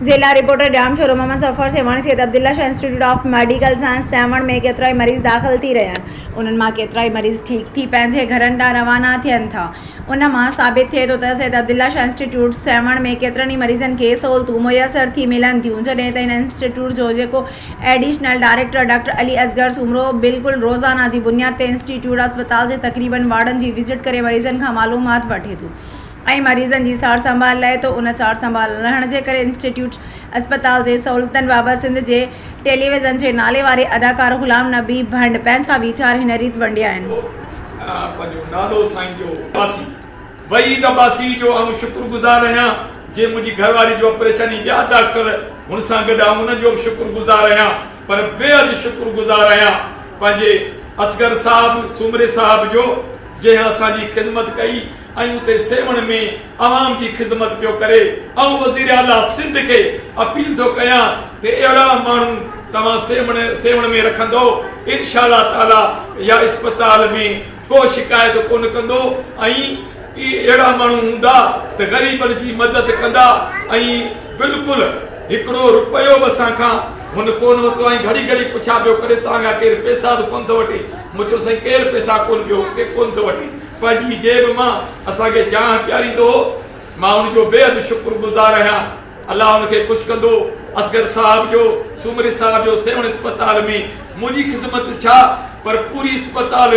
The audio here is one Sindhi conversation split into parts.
ضلع reporter, Jamshoro Muhammad Safar Sehwan Syed Abdullah Shah institute of medical science Sehwan ۾ ڪيترائي مريض داخل ٿي رهيا آهن انهن مان ڪيترائي مريض ٺيڪ ٿي پنهنجي گهرن ڏانهن روانا ٿين ٿا ان مان ثابت ٿئي ٿو ته سيد عبدالله شاهه انسٽيٽيوٽ سيوهڻ ۾ ڪيترن ئي مريضن کي سهولتون ميسر ٿي ملن ٿيون جڏهن ته هن انسٽيٽيوٽ جو جيڪو additional director doctor Ali Asghar Soomro بلڪل روزانه جي بنياد تي انسٽيٽيوٽ اسپتال جي تقريبن وارڊن جي وزٽ ڪري مريضن کان معلومات وٺي ٿو ۽ مريضن جي سار سنڀال لهي ٿو ان سار سنڀال نه رهڻ جي ڪري انسٽيٽيوٽ اسپتال جي سهولتن بابت سنڌ جي ٽيليويزن جي نالي واري اداڪار غلام نبي ڀنڊ پنهنجا ويچار هن ريت ونڊيا آهن. هو پنهنجو نالو سائين جو. عباسي، وحيد عباسي، جو آئون شڪر گذار آهيان جنهن منهنجي گهر واري جو آپريشن ۽ ٻيا ڊاڪٽر هن سان گڏ آئون انهن جو به شڪر گذار آهيان پر بيحد شڪر گذار آهيان پنهنجي اصغر صاحب سومري صاحب جو جنهن اسان جي خدمت ڪئي ۽ اتي سيوهڻ ۾ عوام جي خذمت پيو ڪري آئون وزير اعليٰ سنڌ کي اپيل ٿو ڪيان ته اهڙا ماڻهو توهان سيوهڻ ۾ رکندو انشاء الله تعالٰي يا اسپتال ۾ ڪو شڪايت ڪونه ڪندو ۽ اهي اهڙا ماڻهو هوندا ته غريبن جي مدد ڪندا ۽ بلڪل هڪڙو رپيو به اسان کان هن ڪونه ورتو ۽ گهڙي گهڙي پڇا پيو ڪري توهان کان ڪير پيسا به ڪونه ٿو وٺي مون چيو سائين ڪير پيسا ڪونه پيو ڪونه ٿو وٺي پنهنجي جيب مان اسان کي چانهه پياريندو هو، مان ان جو بيحد شڪر گذار آهيان، الله ان کي خوش ڪندو، اصغر صاحب جو سومري صاحب جو سيوهڻ اسپتال ۾ منهنجي خدمت ڇا پر پوري اسپتال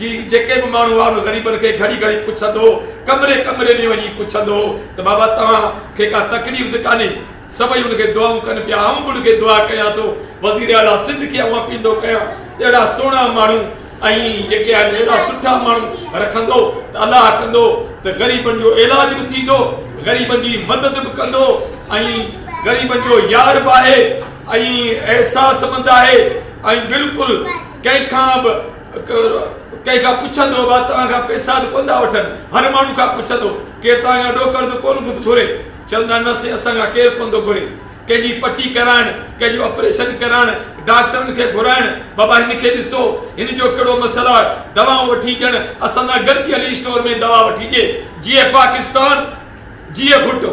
جي جيڪي به ماڻهو هئا ان غريبن کي گهڙي گهڙي پڇندو هو، ڪمري ڪمري ۾ وڃي پڇندو هو ته بابا توهان کي ڪا تڪليف ته ڪانهي، سڀئي ان کي دعائون ڪن پيا آئون به ان کي دعا ڪيان ٿو، وزيراعليٰ سنڌ کي آئون اپيل ٿو ڪيان ته اهڙا سهڻا ماڻهو. ائين جيڪي آهن اهڙا سٺا ماڻهو رکندو ته الله ڪندو ته غريبن جو علاج به ٿيندو غريبن جي مدد به ڪندو ۽ غريبن جو يار به آهي ۽ احساس مند آهي ۽ بلڪل ڪنهن کان به ڪنهن کان پڇندو به توهان کان پئسا ته ڪونه ٿا وٺن هر ماڻهو کان پڇندو ڪير توهان کان ڏو قرض ڪونه ٿو گهري چوندا نه سائين اسان کان ڪير ڪونه ٿو گهري ڪنهن جي پٽي ڪرائڻ، ڪنهن جو آپريشن ڪرائڻ، ڊاڪٽرن کي گهرائڻ، بابا هن کي ڏسو، هن جو ڪهڙو مسئلو آهي، دوائون وٺي ڏيڻ، اسان سان گڏجي هلي اسٽور ۾ دوا وٺي ڏي. جيئي پاڪستان جيئي ڀٽو.